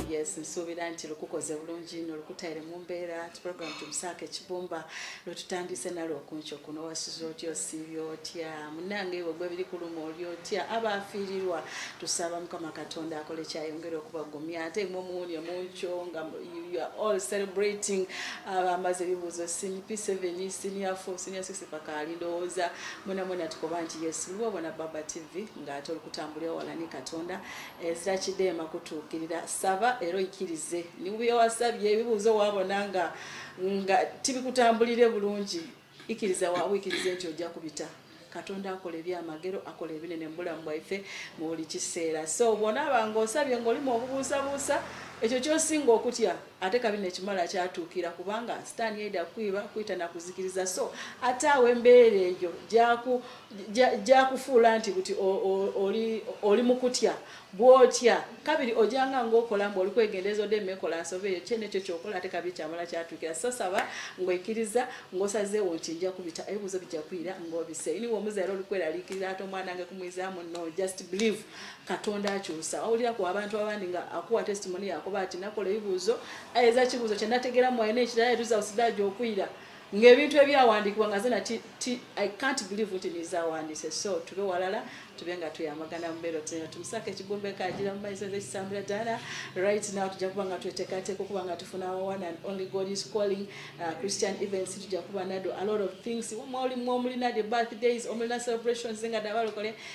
yes nsuubira nti lukukoze bulungi no lukutaire mu mbeera ti program tumusaako ekibumba lwetutandise nalwo okunco kuno wasuza otya osiibya otya munange ewe gwe biri kuluma oli otya aba afiirirwa tusaba mukama katonda akole kyayongera okubagumya ate mwe omuwunya munco nga you are all celebrating abamaze ebibuuzo sin p7 senior 4 senior 6 bakaali ndowooza mwena mwena tukoba nti yesu luba obona baba tv ng'ate olikutambulira wala ne katonda ezira kideema kutuukirira saba era oikirize nibyowasabye ebibuuzo wabona nga nga tibikutambulire bulungi ikiriza wawikirize nti ojja kubita katonda akola ebyamagero akola ebinene mubulamu bwaife mu buli kiseera so bwonaaba ngaosabye ngaolimu obubuusabuusa ekyo kyosinga okutya ate kabi nekimala kyatuukira kubanga sitaani yaida kukwiba kuyita nakuzikiriza so ate awo embeera eyo gyakufuula nti buti oli mukutya bwotya kabiri ojanga ngaokola mbu oli kwegendereza ode mekola nsoba eyo kyene ekyo kyokola ate kabi kyamala kyatuukira so saba ngaoikiriza ngaosazeewo nti nja kubita ebibuzo bijja kuyira ngaobise iniwe omuzaire oli kweraliikirira ate omwana nge kumwizaamu no just believe katonda akyusa owulira ku abantu abandi nga akuwa testimony yakuba ati nakola ebibuuzo ayeza kibuuzo kyenategera mwalina ekirala etuzausdaaja okwira ngaebintu ebyawandiikibwa nga zena i cant believe nti nizawandiise so tube walala tube nga tuyamagana mubeero tena tumusako ekigumba ekagira mumaiso zekisambula dala right now tujja kuba nga twetekateeka okuba nga tufuna one and only god is calling uh, christian events tujja kuba nado a lot of things mwoli mwomulina the birthdays omulina celebrations nga dabalokole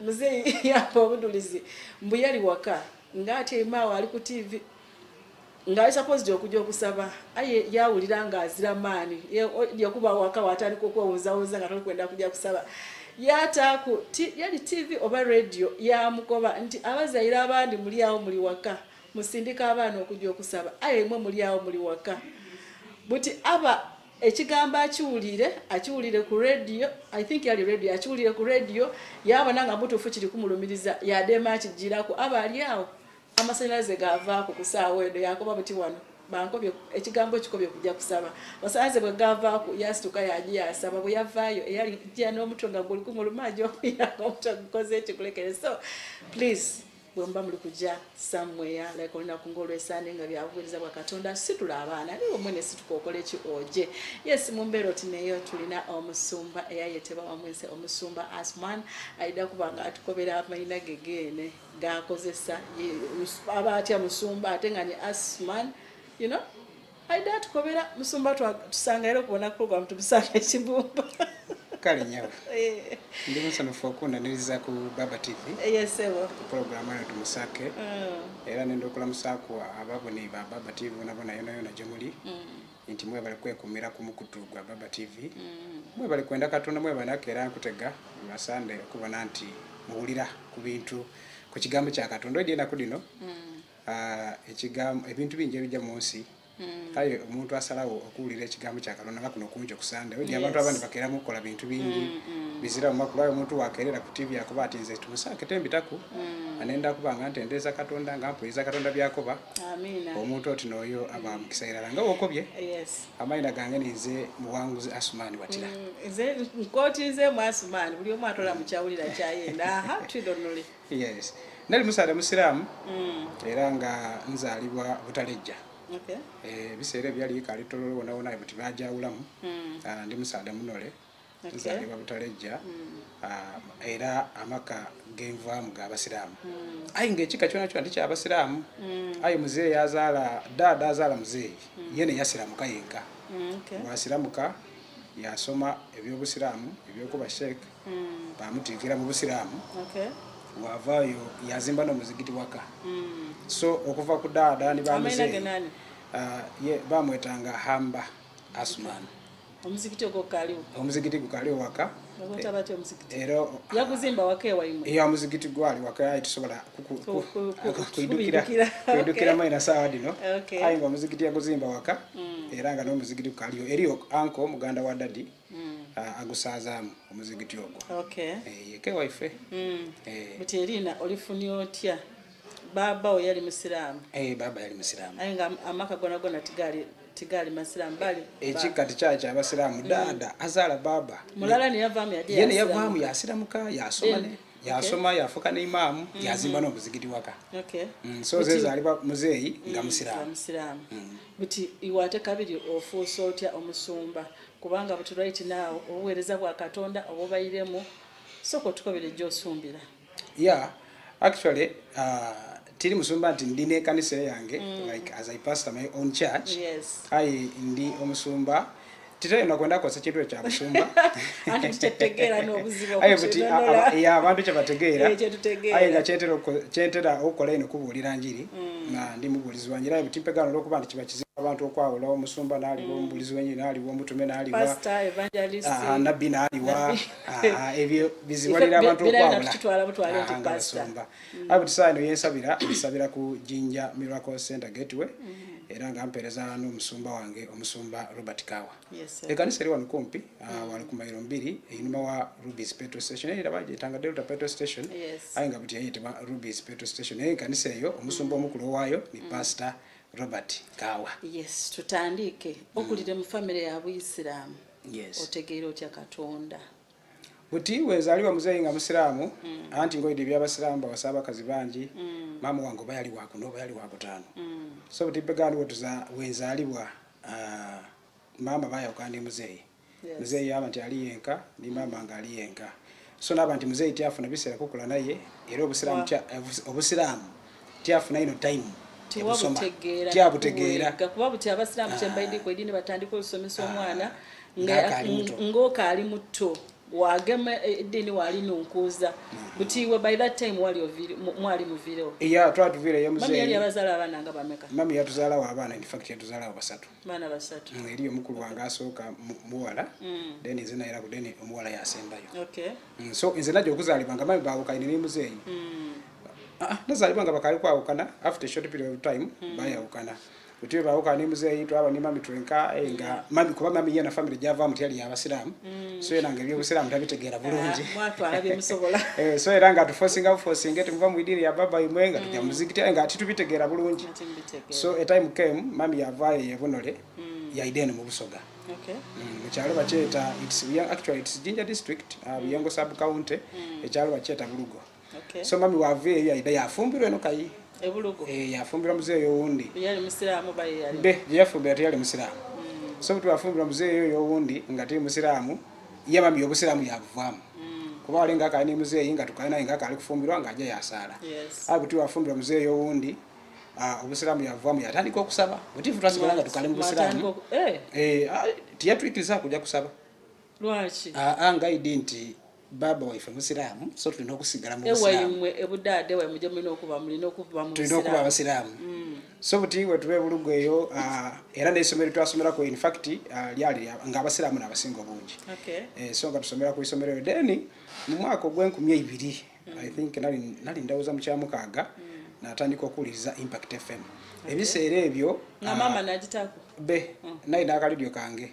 muzeyi yamba obudulizi mbu yali waka nga atyemaawo ali ku tivi ngaali sapoziti okuja okusaba aye yawulira nga azira maani yekuba waka watandika okwewunzawunza nga tolikwenda kuja kusaba yataaku yali tivi oba radio yamukoba nti abazaire abandi muli awo muli waka musindika abaana okuja okusaba aye mwe muli awo muli waka buti aba ekigambo akiwulire akiwulire ku radio i think yali radio akiwulire ku radio yabona nga mutuufu kiri kumulumiriza yadeema akijjiraku aba ali awo amasanyalaze gavaako ku saawa eno yakoba buti wano bankobye ekigambo kikobye kujja kusaba basanze bwe gavaako yasituka yaji yasaba bwe yavaayo eyali jja n'omutwe nga guli kumuluma ajokuira omutwe gukoze ekikulekere so please bwemuba muli kujja somewhere like olunaku ngaolwesande nga byabuweereza bwa katonda situla abaana naye omwe nesituka okola eki oje yes mumbeera oti neyo tulina omusumba eyayeteba wamwense omusumba asman ayida kuba nga atukobera amayina gegeene gakozesa aba atya musumba ate nga ni asman you know aida tukobera musumba tusanga era okubona program tumusanga ekibumba kale nyabo eh. ndi musanyufu okundaniriza ku baba tv yesebo pulogulaamu eno tumusake mm. era nenda okulamusaku ababone ba baba tv nabona yonayona gyemuli mm. nti mwebale kwekumira ku mukutu gwa baba tv mm. mwebale kwenda katonda mwebanako era nkutega masande okubona nti muwulira ku bintu ku kigambo kya katonda ojeenaku dino Ah, ekigambo ebintu bingi ebijja mu nsi hmm. kale omuntu asalawo okuwulira ekigambo kya katonda nga kuno kungi okusande oja abantu abandi bakeeramu okukola bintu bingi hmm, hmm. bizira mumaku lwayo omuntu wakeerera ku tivi akuba ati nze tumusaake tembitaku anenda kuba nga ntendeeza katonda nga mpuliza katonda byakoba omuntu oti nooyo aba mukisa irala nga wokobye amaina gange ninze muwanguzi asumaani watira nkotinzemu asumaani buli omu atola mukyawulira kyayenda yes nali musaale musiraamu mm. era nga nzaalibwa butalejja okay. e, biseera ebyali ikaali tololo wonawona buti bajawulamu mm. Ah, ndi musaale munole okay. nzaalibwa butalejja mm. a, ah, era amaka genvaamu ga basiraamu mm. ayi ngaekika kyona kyona tikyabasiraamu mm. ayi muzeeyi yazaala daada azaala muzeeyi mm. yene yasiramuka yenka mm, okay. wasiramuka yasoma ebyobusiraamu ebyokuba sheekh mm. bamuteekera mu busiraamu okay. wavaayo yazimba nomuzigiti waka mm. so okuva ku daada ni bamuze uh, ye bamwetanga hamba asman omuzigiti ogwo kaliwo omuzigiti gukaliwo waka eyamuzigiti gwali wakaye tusobola kuidukiramu ena saawa dino aye nga omuzigiti yaguzimba waka mm. era nga nomuzigiti kukaliyo eriyo anko muganda wa dadi mm. uh, agusazaamu omuzigiti ogwo okay. hey, eh, kewaife mm. hey. Eh. but erina olifunia otya baba we yali musiraamu hey, eh, baba yali musiraamu aye nga amaka gona gona tigali tigali masiraamu bali ekika tikyaki abasiraamu mm. dada azaala baba mulala neyavaamu yadi yene yavaamu yasiramuka yasoma ne yasoma okay. yafuka ne imaamu mm -hmm. yazimba n'omuzigiti waka okay. mm, so zezaliba muzeeyi nga mm, musiraamu mm. buti iwate kabiri ofuusa otya omusumba kubanga buti right now obuweereza bwa katonda obubairemu soko tukobere gyosumbira yeah actually uh, tiri musumba nti ndi nekanisa yange mm. like as i pastor my own church yes. ai ndi omusumba titali nakwenda kosa kintu ekya musumba abantu kyebategeera aye nga kyentera okukola ino kubuulira njiri mm. nga ndi mubuulizi obujulizi wange era butimpegaana olwokuba nti kiba kizibu abantu okwawulawo omusumba naaliwa mm. omubulizi wenyi naaliwa omutume naaliwa ah, nabbi naaliwa ah, ebyo bizibalira abantu okwawulaaabasumba mm. abuti saa ino yensabira nsabira ku jinja miracle center gateway mm. era nga mpeereza n'omusumba wange omusumba robert kawa ekanisa eri wano kumpi ah, mm. wano ku mairo mbiri einuma wa rubis petro station era bagyetanga delta petro station aye nga buti yayitibwa rubis petro station naye ekanisa eyo omusumba omukulu owaayo ni mm. pasita robert kawa yes tutandiike okulire mu famiry ya buisiraamu otegeera otya katonda buti wezaliwa muzeeyi nga musiraamu mm. anti ngoyide ebyabasiraamu bawasa abakazi bangi maama wange oba yali wakuna oba yali wakutaano so buti begandiwotuza wenzalibwa Ah, maama bayoka ndi muzeeyi Yes. muzeeyi yaba nti ali yenka ndi maama nga ali yenka so naba nti muzeeyi tyafuna biseera kukula naye era obusiraamu Wa- tya- obus- obusiraamu tyafuna ino time ebusoma tewabutegeera tyabutegeera nakuwega, kuba buti abasiraamu kyembaidiko edini batandika olusomesa omwana nga- Ng'akaali muto. ng'okaali muto wagema eh, edini wali nunkuza buti we by that time wali oviri mwali muvirewo ya twa tuvire ye mzee mami yabazala abana nga bameka mami yatuzala wa abana in fact yatuzala wa basatu mana basatu mm, eri omukulu wanga asoka muwala mm. then izina era ku then omuwala yasembayo okay mm, so inze najo kuzali banga mami bawo kaine ni mzee mm. ah, ah nazali banga bakali kwa ukana after short period of time mm. baya ukana Mutwe bawo kani muzeyi twaba ni mami twenka eh, nga mm. mami kuba mami yana family java mutya ya abasiramu mm. so era nga byobusiramu tabitegera bulungi ah, mwatu alabe musobola eh so era nga tuforcing out forcing it muva mwidiri ya baba imwe nga mm. tujja muzikiti eh, nga titubitegera bulungi so a time came mami yava yebonole mm. ya idene mu busoga Okay. Mm, ekyalo bakyeta it's actually it's ginger district uh, mm. buyongo sub county mm. ekyalo bakyeta bulugo okay. so mami wava eyo yaida yafumbirwa eno kayi eh, yafumbirwa muzeeyi owundi be gyeyafumbira teyali musiraamu mm. so buti wafumbirwa muzeeyi oyo owundi nga tiri musiraamu ye mami obusiraamu yabuvaamu mm. kuba wali nga akali ne muzeeyi nga tukali naye nga akali kufumbirwa nga aja yasaala a buti wafumbirwa muzeeyi owundi Ah, obusiraamu yavamu yatandika okusaba butifu twasigala nga tukali mubusiraamu eh. eh, ah, tiyatwikiriza kuja kusaba lwaki aa ah, ngaidi nti baba waife musiraamu so tulina okusigala muewayimwe ebudaade waimwe gyemulina okuba mulina okuba tulina okuba abasiraamu mm. so buti wetuba ebulugu eyo uh, era neisomero twasomerako infact uh, lyali nga abasiraamu nabasinga obungi eh, so nga tusomera ku isomero eyo then mu mwaka ogwenkumi eibiri mm. i think nali ndawooza mukyamukaaga mm. natandika okuwuliriza impact fm ebiseera ebyo uh, be naye nakalidio kange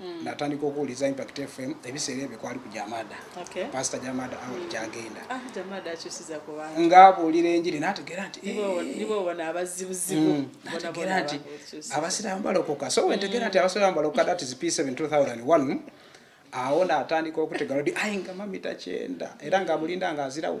mm. natandika okuwuliza impact fm ebiseera ebyo kwali ku jamada okay. pasita jamada awo mm. gyagenda ah, nga abuulira enjiri nategera nti eh. mm. nategera nti abasiraamu balokoka so wentegera nti abasiraamu balokoka that is p 7 2001 awo natandika okutegalodi ayi nga mamita kyenda era nga mulinda nga azirawo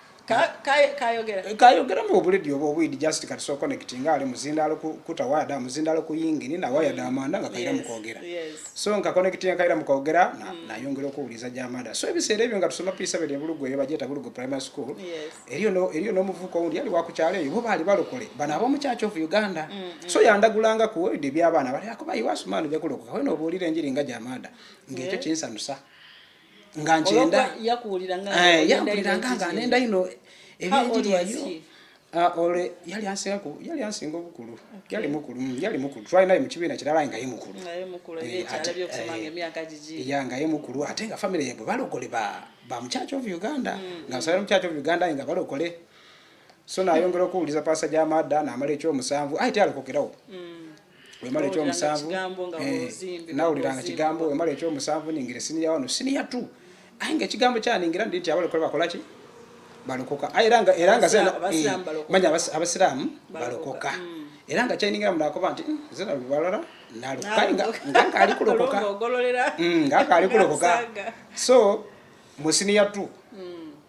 kayogera mu obuledi oba obwidi just kati so connect nga ali muzindaalo kuta wada muzindaalo ku yingini na waya da amanda nga kaira mukwogera so nka connect ya kaira mukwogera na mm. nayongera okuwuliza gya amanda so ebiseera ebyo nga tusoma piisa bere bulugu eyo bajeta bulugu primary school eriyo no eriyo no muvuko undi yali wakukyalo eyo bo bali balokole bana abo muchacho of uganda mm, mm. so yandagulanga ku obwidi by'abaana bali akuba iwasumanu byakulokoka wena obuulira enjiri nga gya amanda ng'ekyo kinsanusa nga nkyenda yakuwulira nga nga nenda ino ebyenjiri eyo Ah, ole yali ansinga ku yali ansinga obukulu yali mukulu mm, yali mukulu twali naye mu kibiina kirala nga ye mukulu eh, eh, ya nga ye mukulu ate nga famire yabwe balokole ba mu church of uganda mm. nga nsabira mu church of uganda nga balokole so nayongera okuwuliza pasa gya madda namala ekyomusanvu aye tyalokokerawo mm. wemala ekyomusanvu eh, nawuliranga kigambo wemala ekyomusanvu ningira siniya wano siniya tu aye nga ekigambo kyaningira ndi nti abalokola bakolaki balokoka era nga eh, manya abasiraamu balokoka mm. era nga kyaningira munakoba nti hmm, zina lubalala nalukangakali kulokoka hmm, so musiniya tu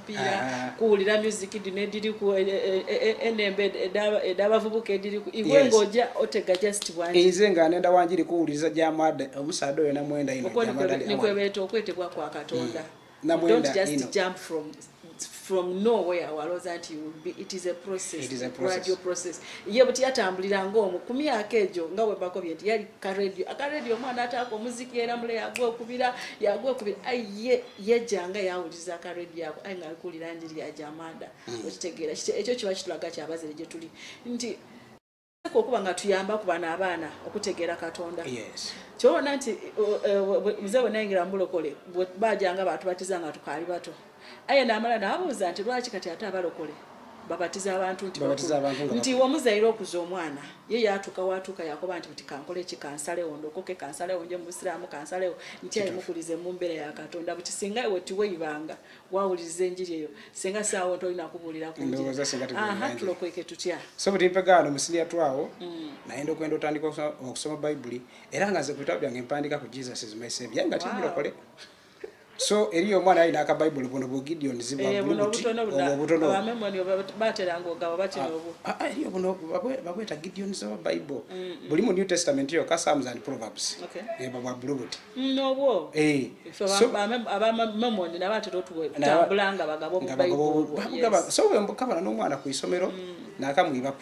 kupiira ah. kuwulira music dino ediri ku eh, eh, eh, enembe edabavubuka ediri ku iwe ngaoja otega just bwanze nga nenda wanjiri kuwuliriza gyamwade omusaada oyo namwenda inokwebeeta okwetebwa kwa katonda mm. don't just jump from from nowhere waloza nti it is a process, it is a process. gradual process ye buti yatambulira ng'omu ku myaka egyo nga webako bye nti yali ka radio aka radio omwana ataako omuziki era mule yagwa okubira yagwa okubira aye yajja nga yawuliza ka radio ako ayi nga kulira njiri ya jamada mm. okitegera kite ekyo kiba kitulaga kya bazere je tuli nti ko kuba nga tuyamba ku bana abana okutegera katonda yes kyona nti mzee e, wenayingira mbulokole bajanga batu batiza nga tukali bato aye namala nabuuza nti lwaki kati ate abalokole babatiza abantu nti babatiza abantu nga nti omuzaire okuza omwana ye yatuka watuka yakoba nti nti kankole ki kansale ondo koke kansale onje musiramu kansale nti ayi mukulize mu mbere ya katonda buti singa ewe tiwe ibanga wawulize njiri eyo singa sawo nto ina kubulira ku njiri ndoza singa tiwe aha tulo kweke tutya so buti mpegano musini ya twawo mm. na endo kwendo tandika okusoma bible era nga ze kutabya ngempandika ku jesus is my savior nga wow. tibiro kole so eri omwana alina aka bible buno bu gideon zibabulubutibabweta gideon zaba bible buli mu new testament yo ka sams and proverbs bwa bulubuti so wembukabana n'omwana ku isomero mm. nakamwibaku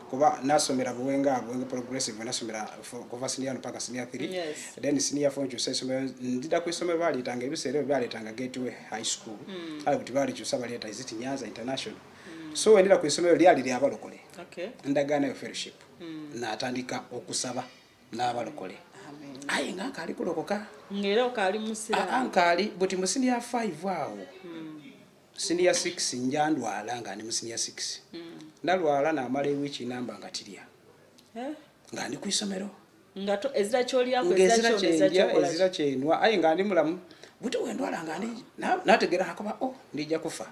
kuba nasomera buwenga buwenga progressive nasomera kuva senior mpaka senior 3 yes. then senior 4 nkyusa esomero ndida ku isomero baleetanga ebiseera ebyo baleetanga gateway high school mm. ali kuti balikyusa baleeta iziti nyanza international mm. so wendera ku isomero lyali lyabalokole okay. endagaano yo fellowship mm. natandika okusaba n'abalokole aye nga nkaali kulokoka ngaera okaali musira nkaali buti musini ya 5 awo mm. siniya 6 nja ndwala nga ndi mu siniya 6 mm. ndalwala namala ewiiki namba nga tirya eh? nga ndi ku isomero ezira kyenwa aye nga ndi mulamu buti wendwala nga ndi nategera nakuba o oh, ndija kufa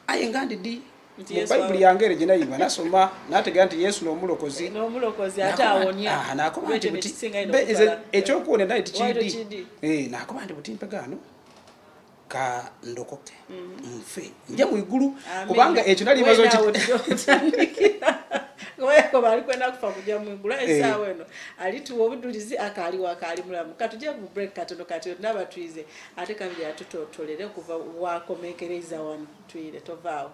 aye nga ndi di mubayibuli yange ere gyenayiba nasoma nategera nti yesu nomulokozi ah, nakuba nti buti ekyokuwona naye tikidi eh, nakuba nti buti mpegaano ka ndokoke mm-hmm. nfe nje mu igulu kubanga ekyo nali bazo ki weko bali kwenda kufa kujja mu igulu eh. esa weno ali tuwo obudulizi akali wakali mulamu katuje ku break katono kati naba tuize ate kabiri atuto tolere kuva wa komekereza wano tuire tovao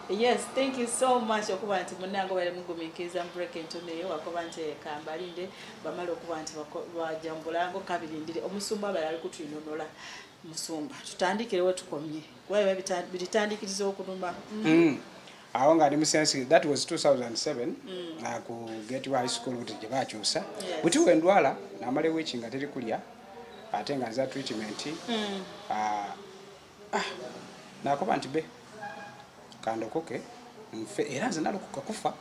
yes thank you so much okuba nti munange bali mugumikiriza mubreak entuneyo wakuba nti ekambalinde bamala okuba nti bajambulango kabirindire omusumba abala ali kutwinonola musumba tutandikire wetukomye kuba bitandikiriza okunuma mm. mm. awo nga ndi musensi that was 2007 mm. ku gate high school kuti gyebakyusa buti wendwala namala ewiki nga teri kulya ate nga nza treatment mm. ah, ah, nakoba nti be kandokoke nfe era nze nalokoka kufa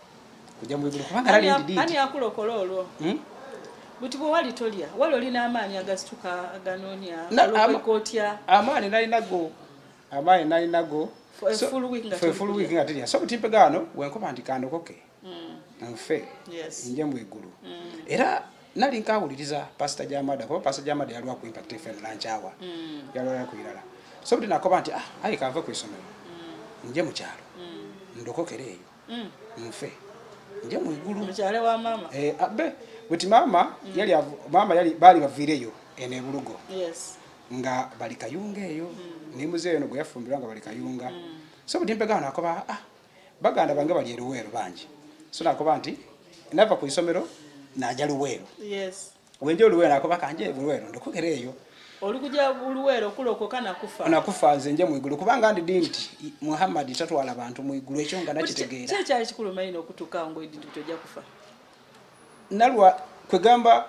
kujja mu bigulu kubanga lali ndi ani akulokola olwo hmm? buti bwe wali tolya wali olina amaanyi agasituka aganoonya alokoka otya amaanyi nalinago amaanyi nalinago so, full week nga tulya so butimpe gano wenkoba nti kandokoke mm. nfe nja mu igulu mm. era nali nkawuliriza pasita jamada kuba pasita jamada yaliwa ku impact fm nankyawa mm. yalwala ku irala so buli nakoba nti ah ayi kanve ku isomero nje mu kyalo ndokokere eyo nfe nje mu igulu mukyale wa mama eh abe ah, buti mama yali mama yali bali bavireyo ene bulugo yes nga bali kayunga eyo mm. ne muzeeyo no gwe yafumbirwa nga bali kayunga mm. so buti mpegana nakoba ah baganda bange bali eruweero bangi so nakuba nti nava ku isomero naja luweero wenja oluweero nakuba kanje luweero ndokogera eyo olikuja luweero kulokoka nakufa nakufa nze nje mwigulu kubanga ndi di nti muhammadi tatwala bantu mwigulu ekyo nga nakitegeera kyekyali kikulu maino okutuka ngo edinti toja kufa nalwa kwegamba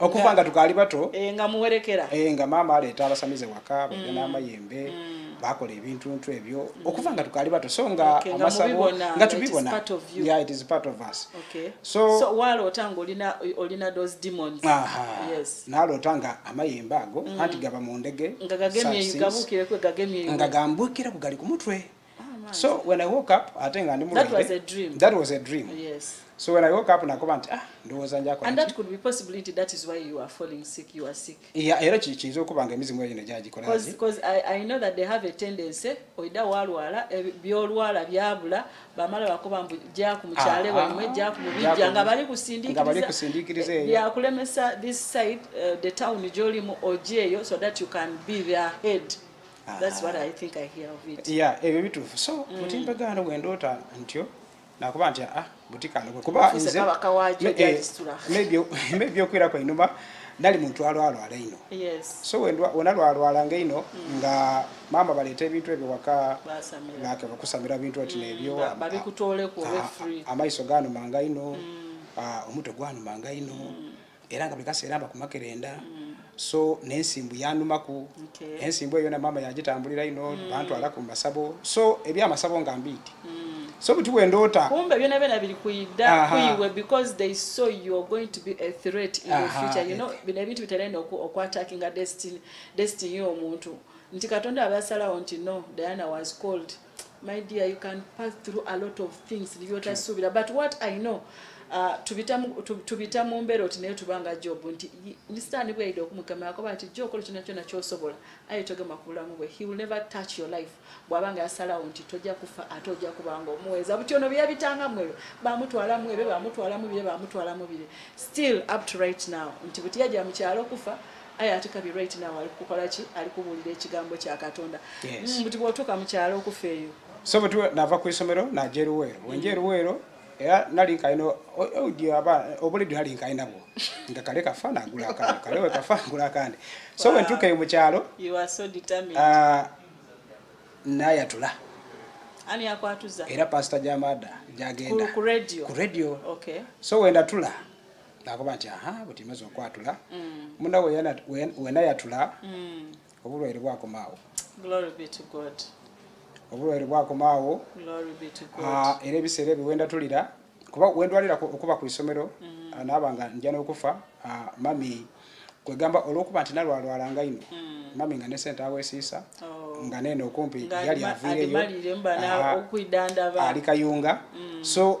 okuva nga tukaali bato eh, nga muwerekera eh, nga maama aleeta abasamize waka mm. bagenda amayembe mm. bakola ebintuntu ebyo mm. okuva nga tukaali bato so nga amasabo nga tubibona yeah, it is part of us okay. so, so waloota nga olina, olina those demons aha yes. naloota nga amayembe ago mm. anti gaba mu ndege nga gagemye gabukire kwe gagemye nga gambukire kugali ku mutwe ah, so when i woke up ate nga ndi mu that was a dream that was a dream yes so when i woke up nakuba nti ah ndowooza njako and that could be possibly nti that is why you are falling sick you are sick yeah era kiyinza okuba nga emizimu eyo negyagikolaki because I, i know that they have a tendency oida walwala eh, byolwala byabula bamala bakuba mbu gyaku mukyale ah, wamwe ah, gyaku mubijja nga bali kusindikiriza eh, byakulemesa this side uh, the town gyolimu ojeeyo so that you can be their head ah. ebyo bituufu so mm. mutimbe gaano bwendoota ntyo nakuba nti ah, butikandokwe kuba ebyokwira eh, kwenuma nali muntu alwalwala ino so wena lwalwala nga ino mm. nga maama baleeta ebintu ebyo waka bakusamira bintu ati mm, nebyo amaiso ganuma nga ino mm. ah, omutwe gwanuma nga ino era nga buli kaseera mba kumakerenda mm. so nensimbu yanumaku okay. ensimbu eyo na mama yagitambulira ino mm. bantwala ku masabo so ebyamasabo nga mbiiti mm. so buti wendoota kumbe byona byona biri kuyida kuyiwe because they saw you are going to be a threat in Aha. the future you know bino ebintu biterenda okwatakinga destiny destiny y'omuntu nti katonda abasalawo nti no diana was called my dear you can pass through a lot of things byotasuubira but what i know uh, tubita mu mbeera oti naye tubanga job nti misitaani bweyida okumukemerako bati jo okola kyona kyona kyosobola aye togema ku bulamu bwe he will never touch your life bwaba nga yasalawo nti tojja kufa ate ojja kubanga omuweza buti ono byeyabitanga mwebyo bamutwala mwebyo bamutwala mubire bamutwala mubire still up to right now nti buti yajja mukyalo okufa aye ate kabi right now ali kukola ki ali kubuulira ekigambo kya katonda mm, buti bwotuuka mu kyalo okufa eyo so buti nava ku isomero naja eruweero wenja eruweero era nali nkalina obulidi nali nkalinabwo nga kale kafa nagula akandi kale we kafa ngula akandi so bwe ntuuka eyo mu kyalo ah, nayatula ani akwatuza era pasita jamada jagenda ku radio so wendatula nakuba nti aha buti maze okwatula mm. muna wenayatula mm. obulwaire bwakomaawo obulwaire bwakomaawo ah, era ebiseera ebyo wendatulira kuba wendwalira okuba ku isomero mm. ah, naaba nga nja n'okufa ah, mami kwegamba olwokuba nti nalwalwala nga ino mami nga nesente awesiisa oh. nga neeno okumpi yali aviireyo ali kayunga so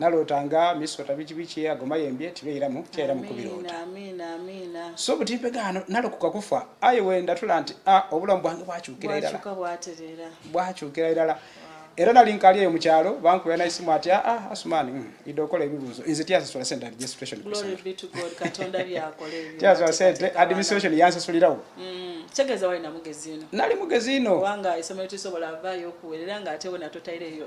naloota nga misota bikibiki agoma yembye tibeera mu kyera mu kubiroota so butimpegaano nalokoka kufa aye wendatula nti a ah, obulamu bwange bwakyukira irala bwakyukira irala era nali nkali eyo mukyalo bankubira naisimu ati aa ah, ah, asumani mm, ide okola ebibuuzo nze tyasasula sente registration tyasasula sente administration yansasulirawo mm. kitegeeza wali namugezi ino nali mugezi ino kubanga esomero tisobola avaayo okuwerera ng'ate wena totaire eyo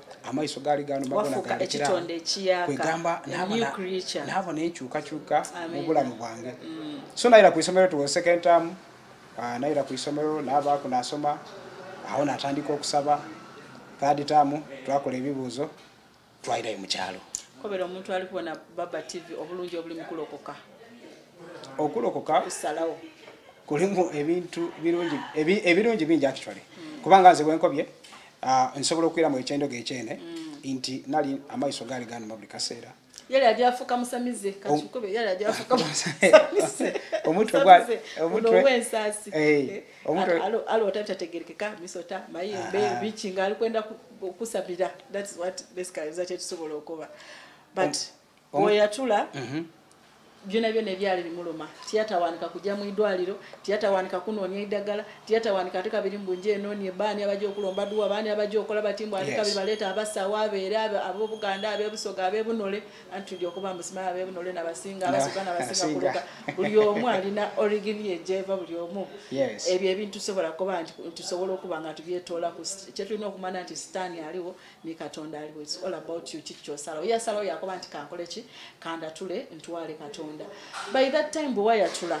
amaiso gaali ganomagonagamba naabo nenkyukakyuka mu bulamu bwange mm. so nayira ku isomero tuwa second term ah, nayira ku isomero naabaako nasoma awo natandika okusaba third term twakola ebibuuzo twayirayo mukyalo kobera omuntu ali kubona baba tv obulungi obuli mukulokoka okulokoka kusalawo kulimu ebintu birungi ebirungi bingi actually mm. kubanga nze bwenkobye Ah, nsobola okuira mu ekyendoga ekyene mm. nti nali amaiso gaali gani mabuli kaseera yali ajja afuka musamize kakikube yali ajja afuka musamize omutwe gwa omutwe wensasi eh omutwe alo alo tata tegereka misota mayi ah, be ah. bichi ngali kwenda kusabira that's what basically that it sobola okuba but ah. oyo yatula mhm. byona byona ebyali bimuluma tiyatawanika kujja mu idwaliro tiyatawanika kunoonya eddagala tiyatawanika ate kabiri mbunje enoonie baani abajja okulomba duwa baani abajja okola bati mbu ate kabiri baleeta abasawo abeere abobuganda abebusoga abebunole anti tuli okuba musimaa abebunole nabasinga abasoga nabasinga kuluka buli omu alina origini ejeva buli omu ebyo ebintu tusobola kuba nti tusobola okuba nga tubyetoola kyetulina okumana nti sitaani aliwo ne katonda aliwo its all about you kiki kyosalawo yasalawo yakoba nti kankole ki kandatule ntwale katonda by that time bwe wayatula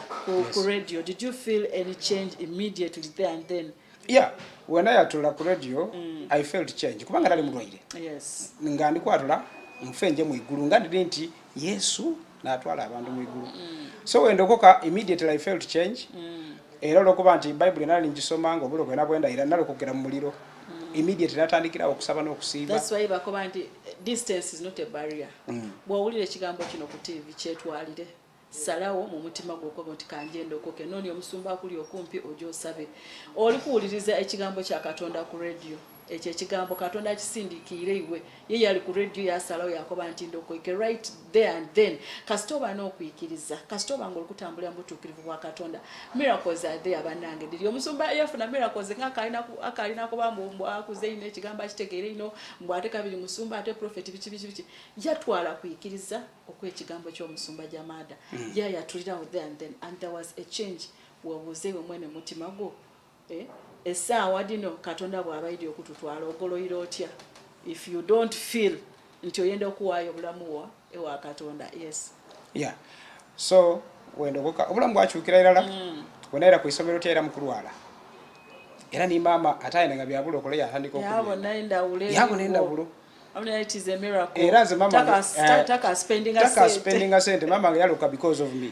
ku radio did you feel any change immediately there and then yeah wena yatula ku radio mm. i felt change kubanga nali mulwaire yes nga ndikwatula nfe nje mu igulu nga ndiri nti yesu natwala abantu mu igulu mm. so wendokoka immediately i fail to change mm. era olwokuba nti bayibuli nali ngisoma nga obulo kwena bwenda era nalokokera mu muliro mm. immediately natandikirawo okusaba n'okusiiba bwowulira ekigambo kino ku tivi kyetwalire salawo mu mutima gwokoba nti kanjenda okoke nooni omusumba akuli okumpi oja osabe oli kuwuliriza ekigambo kya katonda ku radio ekyo ekigambo katonda akisindikiire iwe ye yali ku radio yasalawo yakoba nti ndokoike right there and then kasita oba n'okuikiriza kasita oba nga olikutambulira mubutuukirivu bwa katonda miracles are there banange diri omusumba yafuna miracles nga akalina kuba mbu akuze ino ekigambo akitegeere ino mbu ate kabiri musumba ate prophet biki biki biki yatwala kuikiriza okwekigambo ky'omusumba jamaada mm. yayatulirawo there and then and there was a change webuuze iwe mwene mutima gwo Eh, essaawa dino katonda bw'abaidi okututwala ogoloira otya if you don't feel nti oyenda okuwaayo obulamu wa ewa katonda yes yeah. so wendogoka obulamu bwakyukira irala mm. wena era ku isomero tya era mukulwala era ni maama ate ayina nga byabula okola yatandika okuyabona endawulo era nze maama taka spendinga sente maama nga yaluka because of me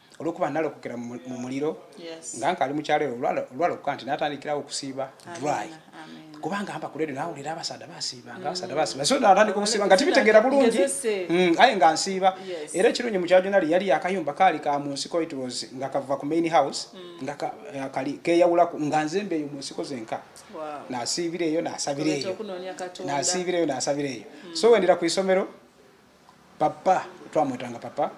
olwokuba nalokokera mu muliro nga nkali mukyalo ero olwalokoka nti natandikirawo okusiiba dry kubanga amba kuleero nawulira abasaadha basiiba nga abasaadha basiiba so natandika okusiiba nga tibitegeera bulungi mm, aye nga nsiiba era ekirungi mukyajonali yali akayumba kaali ka mu nsiko it was nga kava ku main house mm. nga eh, kali keyawulaku nga nzembe eyo mu nsiko zenka nasiibira eyo nasabira eyo nasiibira eyo nasabira eyo mm. so wendera ku isomero papa twamwetanga papa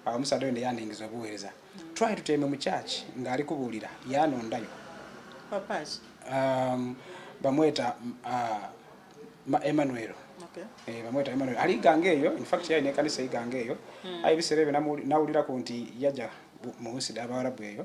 omusaadha oyo neyandiingiza obuweereza twali tutembe mu church ng'ali kubuulira yanondayo um, bamweta uh, emmanuel eh, bamweta emmanuel ali iganga eyo infact yalina ekanisa iganga eyo hmm. aye ebiseera ebyo nawulirako nti yaja mu nsi dha abawarabu eyo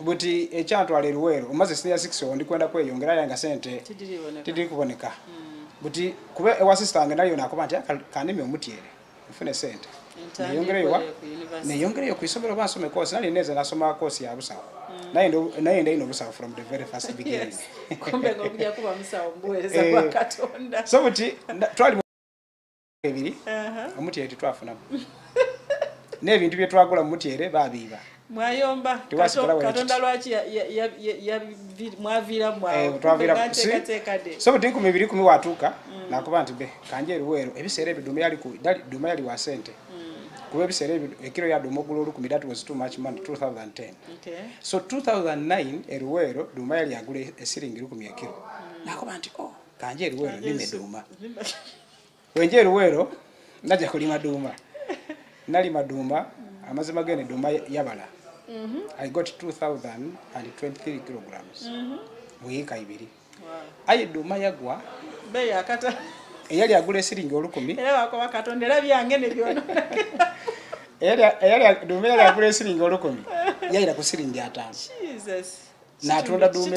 buti ekyantwala eruweero omaze siniya six owo ndikwenda kweyongera aye nga sente tidiri kuboneka hmm. buti kuba ewa sisita wange nayo nakuba nti kanimi omutyere nfune sente neyongereyowa neyongereyo ku isomero oba nsome kosi nali neeza nasoma kosi ya busawo hmm. naye ndayina obusawo from the very first beginning eh. so buti twali ebiri uh-huh. omutyere tetwafunamu n'ebintu bye twagula mu mutyere babiiba mwayomba katonda lwaki mwaviiramwateekateekade so buti nkumi biri kumi watuuka mm. nakuba nti be kanje eruweero ebiseera ebyo duma yali wa sente mm. kuba ebiseera ebyo ekiro yaduma ogula olukumi that was too much money 2010 so 2009 eruweero duma yali agula esiringi lukumi ekiro mm. nakuba nti o oh, kanje eruweero nime duma wenje eruweero naja kulima duuma nalima duuma amazima gene duuma yabala mhm. i got 2023 kilograms mhm. muyiika ibiri aye duuma yagwa eyali agula esiringi olukumi duuma eyali agula esiringi olukumi yayira ku siringi ataano natunda duuma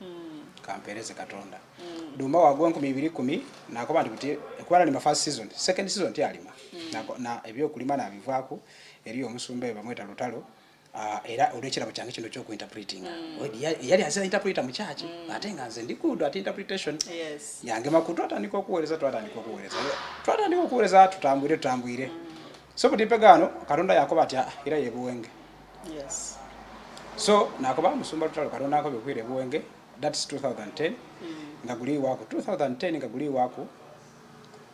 mm. kampereze katonda mm. duma wagwa enkumi ibiri kumi nakoba nti buti kubala ni first season second season ti alima mm. na, na ebyo kulima na bivako eriyo omusumba eba mweta lutalo Uh, era olwekira mu kyange kino kyokuinterpreting mm. yali azira interpreter mu kyaki mm. ate nga nze ndikuudu ati interpretation yes. yange makutu atandika okuweereza twatandika okuweereza twatandika okuweereza tutambwire tutambwire mm. so buli mpega ano katonda yakoba ati ah, era yebuwenge yes. so nakoba musumba lutalo katonda akoba okwira ebuwenge thats 2010 mm. nga guli waku 2010 nga guli waku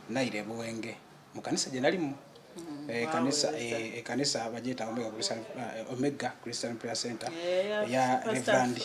naira ebuwenge mu kanisa gye nalimu mm. eh, ekanisa eh, ekanisa bajeta omega christian prayer center eya eh, reverandi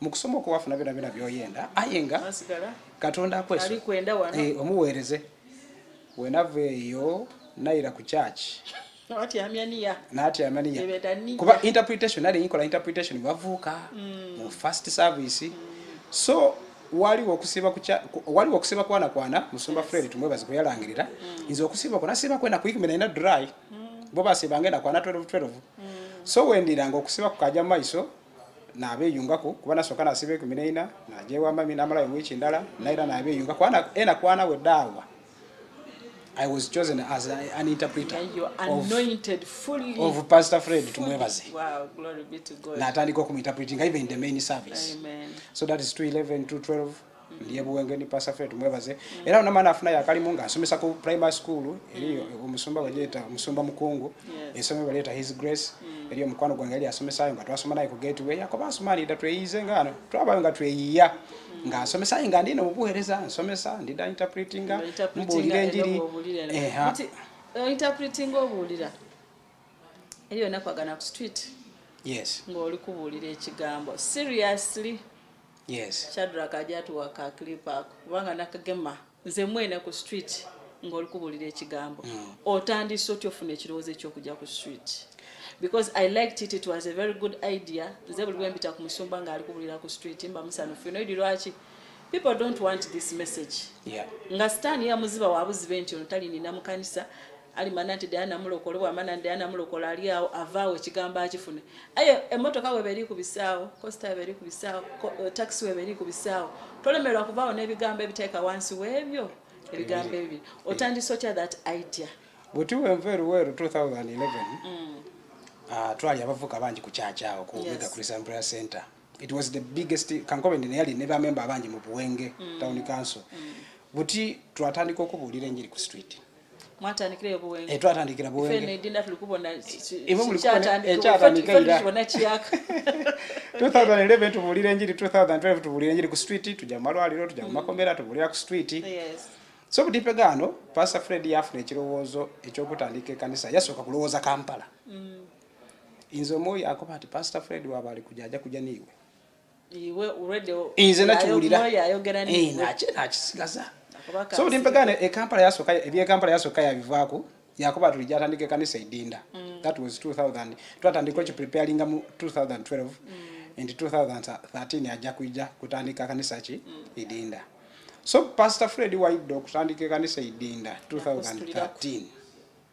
mu kusoma okwo wafuna byona byona byoyenda aye nga katonda akweso eh, omuweereze wenava eyo nayira ku kyaki natyamaniyakuba interpretation nali yikola interpretation bavuuka mm. mu first service so waliwo okusiba kucha waliwo okusiba kwana kwana musumba fred tumwebaze kuyalangirira mm. nze okusiba kwana siba kwena kuikimina ina dry mm. bo basiba ngenda kwana 12 12 so wendiranga okusiba kukaja maiso nabeyungako kuba nasooka nasiba ekumi naina najewambami namalayo wiiki ndala naera nabeyunga kubana ena kwana we daawa i was chosen as an interpreter of pastor fred tumwebaze natandika okumuinterpretinga even the main service so that is 211 212 ndiye buwenge ni pastor fred mwebaze mm. era una mana afuna yakalimu nga asomesa ku primary school mm. eriyo mm. omusumba wajeta musumba mukungu yes. esome baleta his grace mm. eriyo mukwano gwange yali asomesa ayo nga twasoma naye ku gateway yakoba asumani da tweyize nga ano twaba nga tweyiya mm. nga asomesa nga ndine mubuhereza asomesa ndida interpreting nga mbulire njiri eh ha uh, interpreting obulira eriyo nakwagana ku street yes ngoli kubulira ekigambo seriously yes shadrack ajja tuwa ka clip ako kubanga nakagema nze mwena ku street ng'oli kubulira ekigambo mm. otandise otya ofuna ekirowoozo ekyokujja ku street because i liked it it was a very good idea nze buli bwempita ku musumba ng'ali kubulira ku street mba musanuffu noidi lwaki people don't want this message yeah. nga sitaani yamuziba wabuzibe nti ono talinina mukanisa alimana nti diana mulokole bwamana nti diana mulokole ali awo avaawo ekigambo akifune aye emotoka weba eri ku bisaawo costa weba eri ku bisaawo eh, taxi weba eri ku bisaawo tolemerwa kuvaawo n'ebigambo ebiteeka wansi w'ebyo ebigambo ebyo otandisa otya that idea buti wenva eruweru 2011 mm. ah, twali abavuka bangi ku kyakyawo ku mega christian prayer center it was the biggest kankobe ndene yali ne bamemba abangi mu buwenge mm. town council mm. buti twatandika okubuulira enjiri ku street mwatandikira eyo buwenga eh, twatandikira buwenga fene dinda tulikubona ekyatandika eh, era tubona kiyaka 2011 tubulira enjiri 2012 tubulira enjiri ku street tujja mu malwaliro tujja mu mm. makomera tubulira ku street yes so butipe gano pastor fred yafuna ekirowoozo ekyokutandika ekanisa yasooka kulowooza kampala mm. nze omwoyo akoba nti pastor fred waba ali kuja aja kuja niiwe nze nakiwuliranakisigaza so buli mpegane ekampala yasoka ebyekampala yasoka yabivaako yakuba tuli gyatandika ekanisa edinda mm. that was 2000 twatandika okipreparinga mu 2012 and 2013 ajja kuija kutandika kanisa ki mm. edinda so pastor fred waidde okutandika ekanisa edinda 2013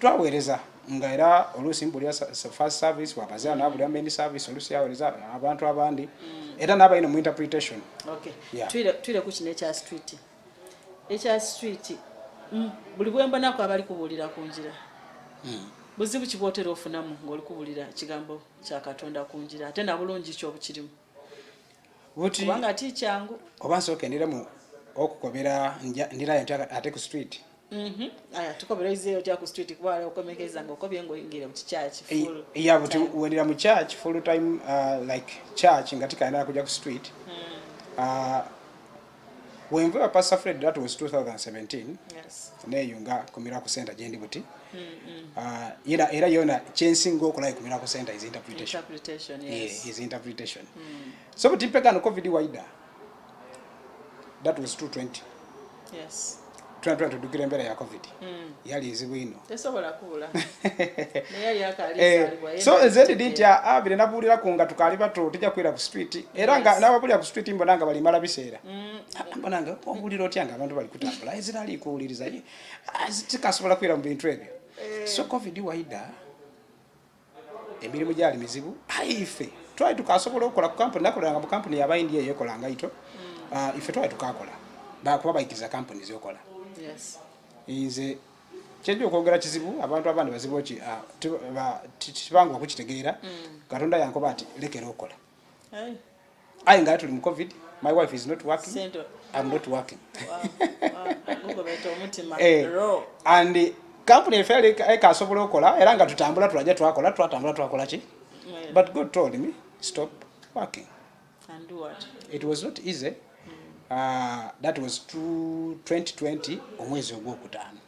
twaweereza nga era oluusi mbulira first service wabazira nabulira main service oluusi yaweereza abantu abandi mm. era nabalina mu interpretation twire ku kino ekya street ekya street mm, buli bwembonako abali kubuulira ku njira mm. buzibu kibwotera ofunamu ngaoli kubuulira kigambo kyakatonda ku njira ate nabulungi kyobukirimu buti kubanga ti kyangu oba nsooka endira mu okukobera ndirayo nti ate ku street mhm. aya tukobera izeyo tya ku street kuba waliwo okomekeza nga okobye nga oyingire mu kikyaki ya buti wendira mu church full time uh, like church nga tikanira kujja ku street hmm. uh, wenva ewa pastor fred that was 2017 yes. neyo nga ku miracle center gyendi buti mm -hmm. uh, era, era yona kyensinga okulayo ku miracle center is interpretation, interpretation yes. yeah, is interpretation. Mm. so buti mpegano covid wider that was 220 yes. tunatula tudukira embera ya covid mm. yali nzibu ino tesobola kula neyali akali eh, so nze ndi dinti ya abire ah, nabulira ku nga tukali bato tija kwira ku street era nga nabo buli ku street mbona nga bali mala bisera mm. ah, mbona nga obulira otya nga abantu bali kutambula ezira ali kuuliriza ye azitikasobola ah, kwira mu bintu ebyo eh. so covid waida emirimu gyali mizibu aife twali tukasobola okukola ku kampuni nakolanga mu kampuni yaba india eyekolanga ito mm. ah, ife twali tukakola bakuba baikiriza kampuni ziokola nze kyenja okwogera kizibu abantu abandi bazibu ki ah, tibanga okukitegeera mm. katonda yankoba nti lekera okola aye nga tuli mu covid my wife is not working Sento. i'm not working eh, and kampuni efe ekasobola okola era nga tutambula tulaja twakola twatambula twakola ki but god told me stop working and do what? it was not easy mm. uh, that was 2020 omwezi ogwokutaano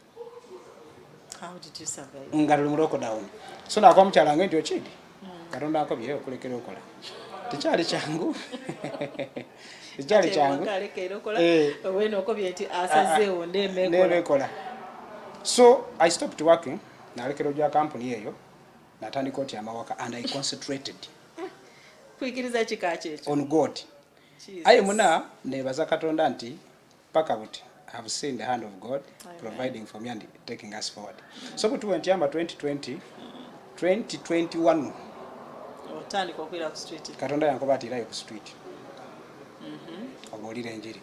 nga luli mu lockdown so nakuba mukyala nga nti okidi hmm. katonda akobye okulekera okola tekyali kyangu tekyali kyangu eh. nebekola so i stopped working nalekera ogya kampuni eyo natandika oti amawaka and i concentrated on god aye muna nebaza katonda nti paka buti have seen the hand of god Amen. providing for me and taking us forward so but went yamba 2020 2021 otandika okwira ku street katonda yankoba ati irayo ku street mhm. obuulira enjiri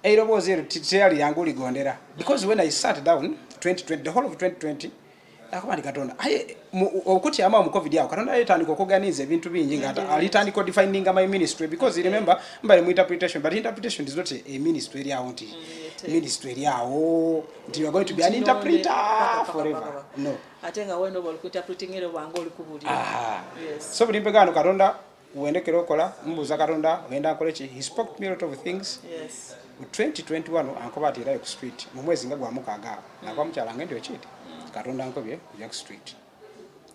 eiroboozi ero teyali yangu ligondera because when i sat down 2020 the whole of 2020 akubandi katonda aye okutyama mu covid awo katonda alitandika okuganiza ebintu bingi nga alitandika defininga my ministry because remember mbali mu interpretation but interpretation is not a ministry eri awo nti mm, ministry eri awo nti you're going to be an interpreter forever no ate nga wena oba olikuinterpreting era obanga olikubulira so buli mpegano katonda wendekera okola mubuuza katonda ogenda nkole ki he spoke to me a lot of things yes. 2021 ankoba ati era ku street mu mwezi nga gwamukaaga awo nakuba mukyala ngende okiiti katonda nkobye kuja ku street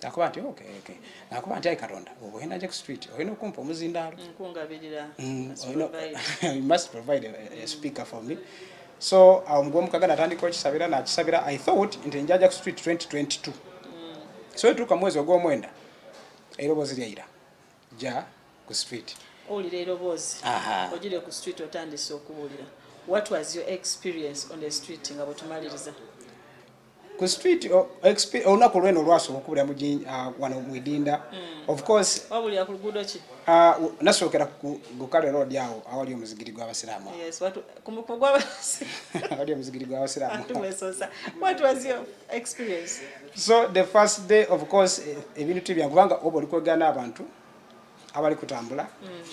nakuba nti okay, okay. nakuba nti ayi katonda ogenda nja ku street olina okumpa omuzindaalo mm, must provide a, a speaker for me so awo mugwomukaga natandika okisabira nakisabira i thought nti njaja ku street 2022 mm. so etuuka mwezi ogwomwenda Erobozi lya ira. Ja ku street. Oli le erobozi. Aha. Ojire ku street otandise okuwulira. What was your experience on the street nga botumaliriza? Ku street oh, experience ona ku lweno lwaso okubira mu jin uh, wano mu idinda. Mm. Of course. Wabuli ya kulugudo ki? Ah uh, nasokera ku gukale road yao awali omuzigiri gwa basiramu. Yes, watu kumukugwa basi. Awali omuzigiri gwa basiramu. What was your experience? so the first day of course eh, ebintu tibyangu kubanga oba oli kwogera n'abantu abali kutambula mm.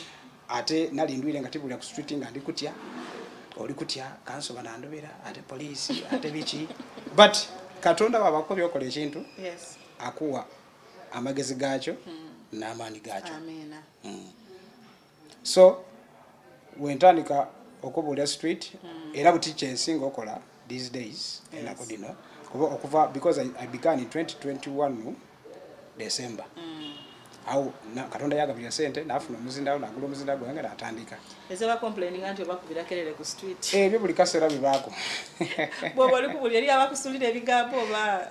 ate nali ndwire nga tibulira ku street nga ndi kutya oli kutya kanso banandobera ate poliisi ate biki but katonda wabako byokola ekintu akuwa amagezi gaakyo mm. n'amaanyi gaakyo mm. so wentandika okubuula street hmm. era buti kyensinga okola these days enako dino kuba okuva because I, i began in 2021 december mm. au na, katonda yagabira sente nafuna omuzindawo nagula omuzinda gwange natandika ebyo buli kasera bibako bwoba oli kubuli eri abakusulira ebigambo oba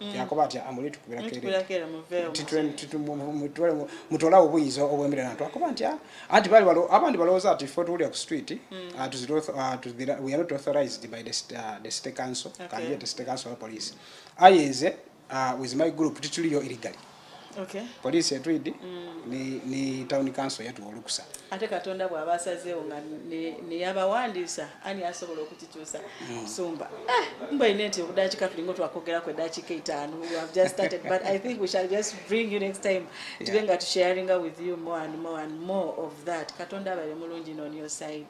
Mm. yakoba atya amuli tukubira kere mutolawo obuyinza obwemere nantu akoba nti ah, anti bali abandi balowooza ati fe tuwulira ku street mm. ah, ah, we are not authorized by the, uh, the state council okay. kanjete state council wa police aye nze uh, with my group tituliyo illegally okay. poliisi etwidi mm. ne, ne town council yatuwa olukusa ate katonda bw'aba asazeewo nga neyabawandiisa ani asobola okukikyusa mm. sumba ah, mba ine nti obudakika tulinga twakwogerako edakika etaano but i think we shall just bring you next time tube nga tusharinga with you more and more and more of that katonda abale mulungi non your side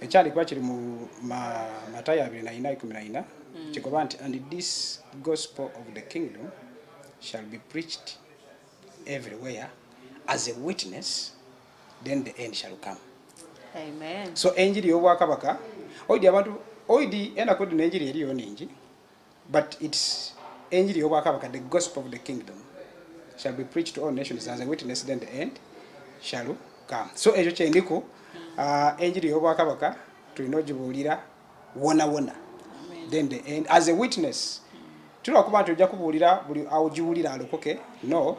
ekyandikuba kiri mu matayo abiri naina ikumi naina mm. kigoba nti and this gospel of the kingdom shall be preached everywhere as a witness then the end shall come Amen. so enjiri y'obwakabaka oidi abantu oidi enaku dino enjiri eriyo ningi but its enjiri y'obwakabaka the gospel of the kingdom shall be preached to all nations as a witness then the end shall come so ekyo kyendiku uh, enjiri y'obwakabaka tulina ogibuulira wona wona then the end as a witness tulina okuba nti ojja kubuulira buli aogiwulira alokoke no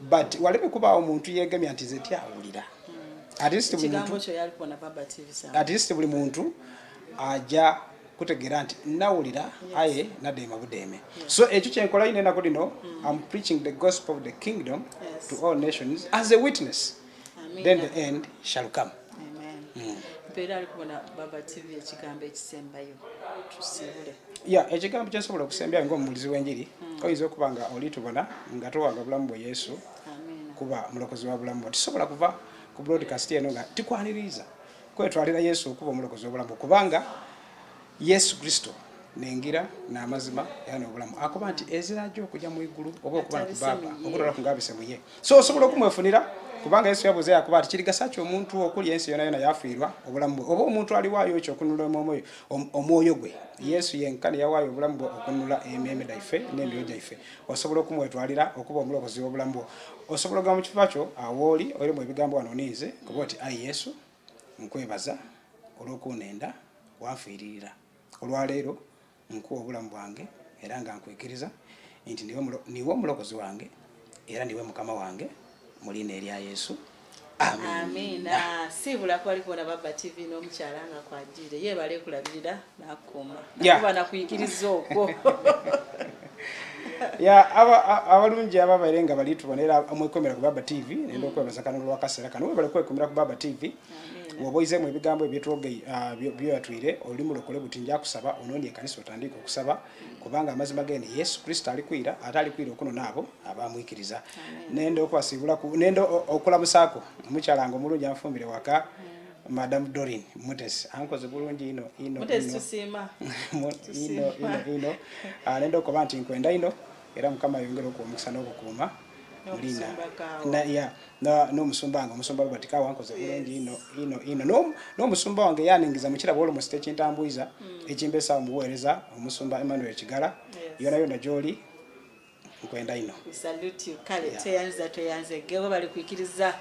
but waleme kubaawo omuntu yeegemya nti zeti awulira at least buli muntu aja kutegera nti nawulira aye nadeema budeeme so ekyo kyenkola yina enako lino mm. am preaching the gospel of the kingdom to all nations as a witness then the end shall come mm. ya ekigambo kyensobola okusembyayo ngaomubulizi w'enjiri mm. oyinza okuba nga olitubona nga towanga bulamu bwe yesu kuba mulokozi wa bulamu bo tisobola kuva ku broadcast eno nga tikwaniriza kwetwalira yesu okuba omulokozi obulamu kubanga yesu kristo nengira namazima era nobulamu akuba nti ezira jo okuja mu igulu oba okuba nti baba okutola kungabise muye so osobola okumwefunira kubanga yesu yabuze yakuba nti kirigasa ki omuntu okuli ensi yona yona yafiirwa obulamu bwe oba omuntu aliwaayo ekyo okunula omwoyo omwoyo gwe yesu yenkani yawaayo obulamu bwe okunula ememe daife n'emyoyo gyaife osobola okumwetwalira okuba omulobozi w'obulamu bwo osobola ogamba mu kifuba kyo awooli oire mu ebigambo wano ninze kuba oti ayi yesu nkwebaza olw'okunenda wanfiiririra olwaleero nkuwa obulamu bwange era nga nkwikiriza nti niwe omulokozi wange era niwe mukama wange mu liina erya yesu amiina siibula kwali kubona baba tv n'omukyala nga kwajiire yeebale kulabirira nakuuma nakuba nakuyigiriza okwo ya abalungi aba baire nga bali tubona era mwekomera ku baba tv nenda okwebaza kano lwakaseera kano webale kwekomera ku baba tv woba oizeemu ebigambo ebyetwogei ah, byoyatwire oli mulokole buti njakusaba onoonya ekanisa otandiika okusaba kubanga amazima gene yesu kristo alikwira ate alikwira okunona abo abamwikiriza nende okubasiibula nende okulamusaako omukyala nga omulungi anfumbire waka mm. madam dorin mutesi ankoze bulungi ino ino ino ino ino ah, nende okuba nti nkwenda ino era mukama ayongere okuwa omukisa n'okukuuma mulina n'omusumba wange omusumba robert kawa nkoze bulungi ino ino ino n'omusumba wange yaningiza mukiraba olomusi tekintambuiza hmm. ekimbesa omuweereza omusumba emmanuel kigala yona yona gyoli nkwenda ino kale teyanza tweyanze gebo bali kwikiriza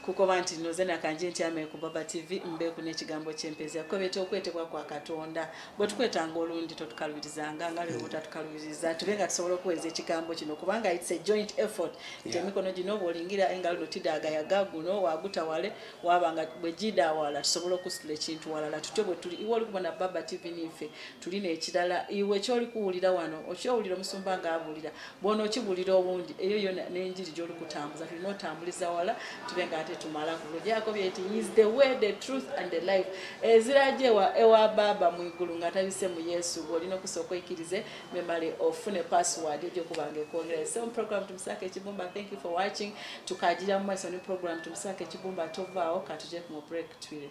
kukoba nti noze nakanje nti ame ku baba tv mbeku n'ekigambo ky'empeeza kubeta okwetebwa kwa katonda bwe tukwetanga olundi totukalubirizanga nga lwe butatukalubiriza tube nga tusobola okuweereza ekigambo kino kubanga its a joint effort nti emikono gino oba olingira engalo no tidaaga yaga guno wagutawale waba nga bwe gida awala tusobola okusitula ekintu walala tutyo bwe tuli iwe olikubona baba tv niife tulina ekirala iwe kyoli kuwulira wano okyowulira omusumba nga abuulira bw'onookibulira obungi eyo yo n'enjiri gy'olikutambuza tulina otambuliza wala tube nga ate tumala ku lugyako byeti is the way the truth and the life eziraja ewa baaba mu igulu nga tabise mu yesu bw'olina okusooka oikirize memale ofune password egyokuba nga ekwongera so program tumusaka ekibumba thank you for watching tukagira mu maiso ne program tumusaka ekibumba tovaawo katuje ku mu break twire